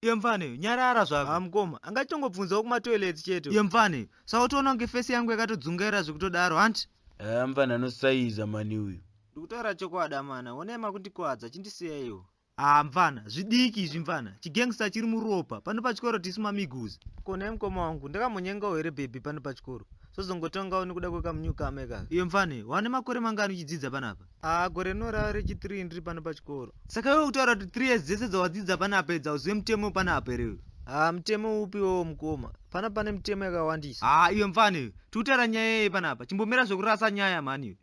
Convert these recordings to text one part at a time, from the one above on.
iye mfana uyu nyarara zvako ah mukoma anga chitongobvunzawo kumatoilets chete iye mfana uyu saka utoona kunge fesi yangu yakatodzungaira zvekutodaro hanti haa mfana anosaiza mani uyu ndikutaura chokwadi amana onai makundikwadza chindisiyaiwo haa mfana zvidiki izvi mfana chigangsta chiri muropa pano pachikoro tisu mamiguzi konai mukoma wangu ndakamonyengawo here bhebhi pano pachikoro sozongotongawo nekuda kwekamunyukama ikaka iye mfana uyu wane makore mangani uchidzidza panapa Ah, gore rino rava rechi 3 ndiri pano pachikoro. Saka iwe kutaura kuti 3 years dzese dzawadzidza pana apa idza uzive mutemo pana apa here? Ah, mutemo upi wowo mukoma? Pana pane mutemo yakawandisa. Ah, iwe mfana iwe, tikutaura nyaya yei pana apa? Chimbomira zvekurasa nyaya mhani iwe.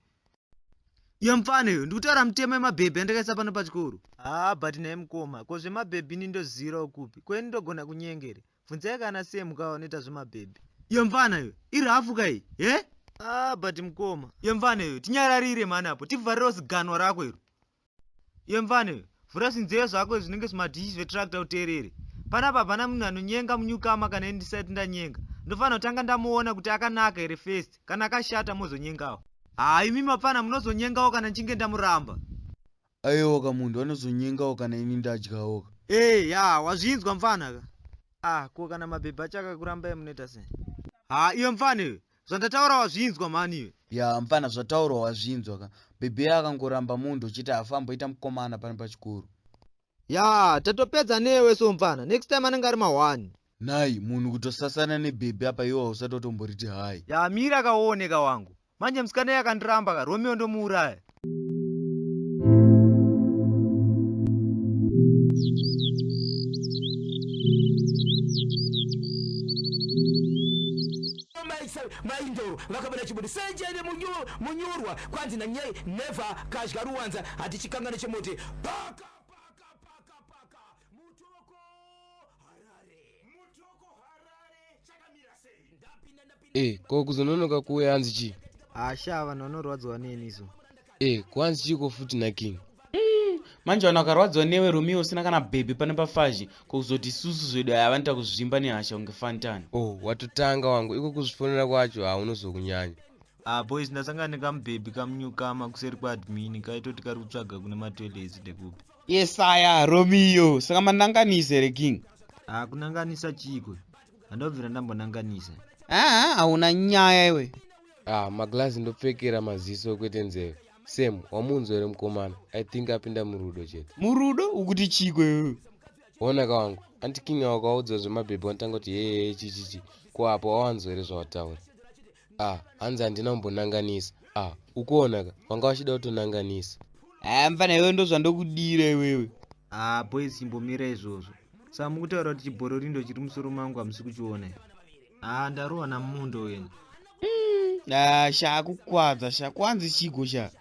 Iwe mfana iwe, ndikutaura mutemo yemabhebhi yandakaisa pano pachikoro. Ah, but naye mukoma, ko zvemabhebhi ini ndoziirawo kupi? Ko ini ndogona kunyengere? Bvunzai kana Sam ka vanoita zvemabhebhi. Iyo mfana iyo iri hafu ka iyi he? Eh? Ah but mkoma. Iyo mfana iyo tinyararire mhani apo tivharirewo ziganwa rako iro. Iyo mfana iyo vhura zvinzeyo zvako zvinenge zvimadhishi zvetractor uteerere. Panapa hapana munhu anonyenga munyukama kana ndisati ndanyenga. Ndofanira kutanga ndamuona kuti akanaka here first kana akashata mozonyengawo. Haa imi mapfana munozonyengawo kana ndichinge ndamuramba. Ayewoka munhu anozonyengawo kana ini ndadyawoka. Hey, ya, wazvinzwa mfana ka? Ah, ko kana mabhebhi acho akakurambai munoita sei? Ha, iwe mfana iwe. Zvandataura wazvinzwa mhani iwe. Ya, mfana zvataurwa wazvinzwa ka. Bhebhi akangoramba munhu uchiti afamboita mukomana pane pachikuru. Ya, tatopedza newe so mfana. Next time anenge ari mahwani. nhai munhu kutosasana nebhebhi apa iwo hausati watomboriti hai yamira kaoneka wangu manje musikana yakandiramba ka romeo ndomuuraya maindoro vakabona chibude sejene munyurwa kwanzi nanyai never kazhga ruwanza hatichikangane chemote paka Mutoko Harare. Mutoko Harare chakamira sei? Ndapinda ndapinda. Eh, ko kuzononoka kuwe hanzi chi? Asha ah, vanhu vanorwadziwa neni isu. Eh, kwanzi chi ko futi na King? Hmm, manje vanhu vakarwadziwa newe Romeo usina kana baby pane pafaji ko kuzoti isusu zvedu aya vanoita kuzvimba nehasha kunge fantani. Oh, watotanga wangu iko kuzvifonera kwacho haunozokunyanya. Ah, boys ndasangana nekamubhebhi kamunyukama kuseri kwaadmin kaitoti kari kutsvaga kune matoilet ndekupi. yes aya romeo saka mananganisa here king ah kunanganisa chiiko handobvira ndambonanganisa aa hauna nyaya iwe ah maglazi ndopfekera maziso kwete nzeve sam wamunzwa here mukomana i think apinda murudo chete murudo ukuti chiiko iwe onaka wangu anti king awakaudza zvemabhebhi wanotanga kuti heyeye chichichi ko apo wawanzwa here zvawataura ah hanzi handina kumbonanganisa ah ukuonaka wanga wachida kutonanganisa haa ah, mfana iwewe ndozvandokudira iwewe haa ah, boys chimbomira izvozvo saa mukutaura kuti chibhororindo chiri musoro mangu hamusi kuchiona haa ah, ndarohwa namundo wena mm, haa shaa kukwadza sha kwanzi chigo sha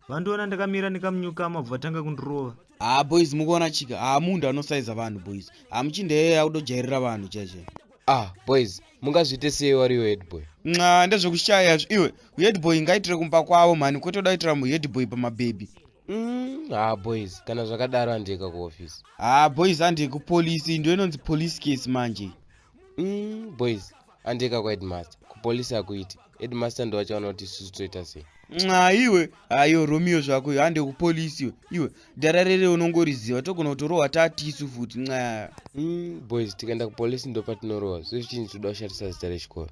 vandiona ndakamira ndikamunyukama bva vatanga kundirova haa boys mukuona chika haa munhu anosaiza vanhu boys hamuchindeyeye akutojairira vanhu chaichai ah boys mungazviite sei wariwo headboy nxa ndezvekushaya zvi iwe headboy ngaitire kumba kwavo mhani kwetoda kuitira muheadboy pamabhebhi mm, haa boys kana zvakadaro handiyeka kuofisi haa boys handiyekupolisi ndo inonzi police case manje mm, boys andika kwaheadmaster kupolisi akuiti headmaster ndovachaona kuti isusu toita sei nxa iwe ayo romeo zvako iyo hande kupolisi iwe iwe dara rere unongoriziva togona kutorohwa tatisu futi nxa mm, boys tikaenda kupolisi ndopatinorohwa zve zvichinzi toda kushatisa zita rechikoro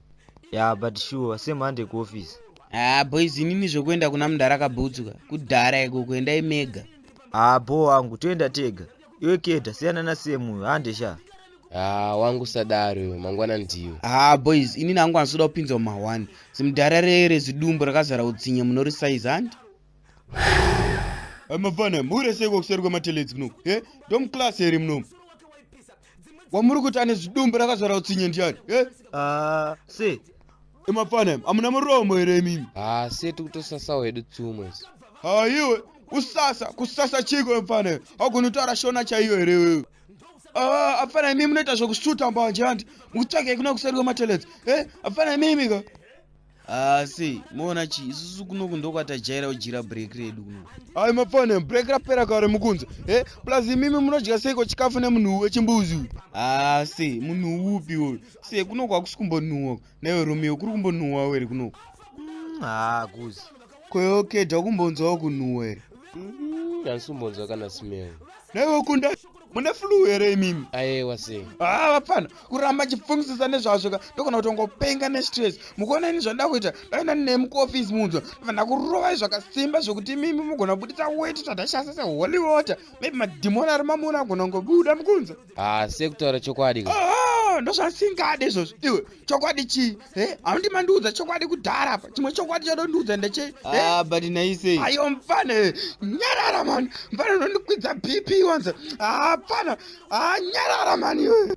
ya yeah, but sure semhande kuofisi haa ah, boys inini zvekuenda kuna mudhara kabhutsuka kudhara iko kuendai mega haa ah, bho wangu toenda tega iwe keta siyana nasem uyo hande sha haa ah, wangu sadaro uyo mangwana ndiwe haa ah, boys ini nangu ansoda kupinzwa mumahwani zimudhara rere zidumbu rakazara utsinye munorisaizi handi amafana mure seiko kuseri kwemateledzi kuno e ndomclass here muno wamuri kuti ane zidumbu rakazara utsinye ndiyani e haa ah, se emafana amuna muromo here imimi haa se tikutosasawo hedu tsumo isu haa iwe usasa kusasa chiko mfana agoni kutaura shona chaiyo here iwewe ah, afana imimi munoita zvekusuta mbanje handi mukutsvage kuna kuseri kwematelets e eh, afana imimi ka asi ah, moona chii isusu kunoku ndokwatajaira kujira break redu kuno ai mafana break rapera kare mukunze e eh, plus imimi munodya seiko chikafu nemunhu wechimbuzi uyu asi ah, munhu upi uyu se kuno kwakusi kumbonhuwa naiwe romeo kuri kumbonhuwa were kuno mm, haa kuzi kweokeda kumbonzwawo kunhuwa here mm, asi umbonzwa kana smell naiwe kunda mune flu here imimi ayewa se haa ah, vapfana kuramba chifungisisa nezvazvo ka ndokona kuti ungopenga nestress mukuona ini zvandoda kuita ndainda ndine mukuofisi munzwa ndofana kurovai zvakasimba zvekuti imimi mugona kubuditsa weti tadashasa seholy water maybe madhimoni ari mamuna agona kungobuda mukunza haasi ah, kutaura chokwadi ka ah, ndozvasingade izvozvo iwe chokwadi chii e eh, haundi mandiudza chokwadi kudhara apa chimwe chokwadi chadondiudza ndeche eh? ah, but naisei ayo mfana eh, nyarara mani mfana unondikwidza bp wanza hapana a nyarara mani iwe